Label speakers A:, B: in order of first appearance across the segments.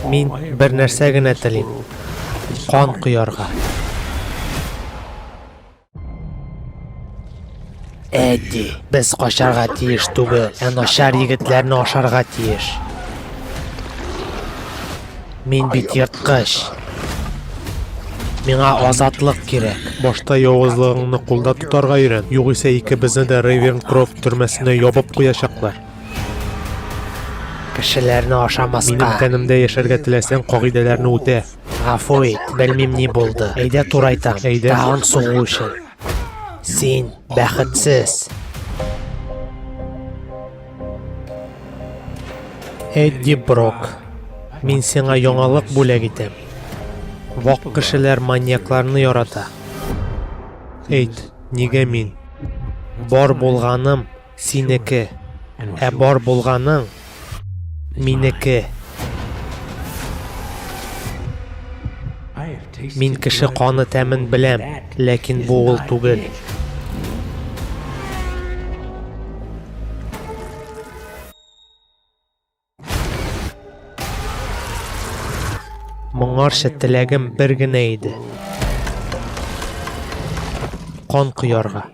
A: Мин бер нәрсә генә телим. Кан коярга. Әди, без качарга тиеш түгел, ә начар егетләрне ашарга тиеш. Мин бит ерткыч. Миңа азатлык кирәк. Башта явызлыгыңны кулда тотарга өйрән, югыйсә икебезне дә Рейвернкрофт төрмәсенә ябып куячаклар. Кешеләрне ашамаска. Минем тәнемдә яшәргә теләсәң, кагыйдәләрне үтә. Гафу ит, белмим ни булды. Әйдә турайтам. Әйдә. Тагын сугу өчен. Син бәхетсез. Эдди Брок. Мин сиңа яңалык бүләк итәм. Вак кешеләр маньякларны ярата. Әйт, нигә мин? Бар булганым Синеке. Ә бар булганың, минеке. Мин кеше каны тәмен беләм, ләкин бу ул түгел. Моңарча теләгем бер генә иде. Кан коярга.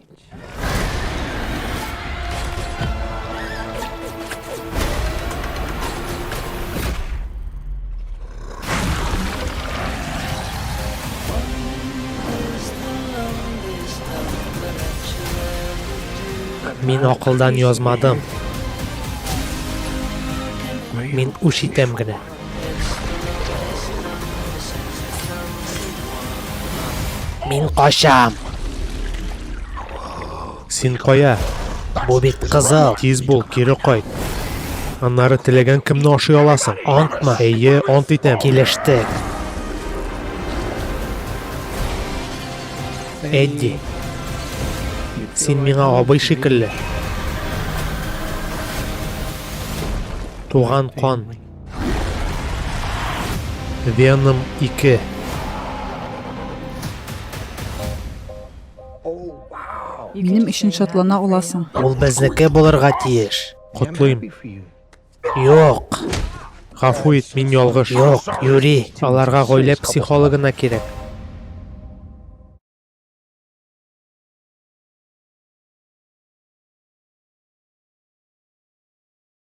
A: Мин акылдан язмадым. Мин үш итәм генә. Мин качам. Син кая? Бу бит кызыл. Тиз бул, кире кайт. Аннары теләгән кемне ашый аласың. Антмы? Әйе, ант итәм. Килештек. Эдди. Син миңа абый шикелле. Туган кан. Веном 2. Минем өчен шатлана аласың. Ул безнеке булырга тиеш. Котлыйм. Юк. Гафу ит, мин ялгыш. Юк, Юри. Аларга гаилә психологына кирәк.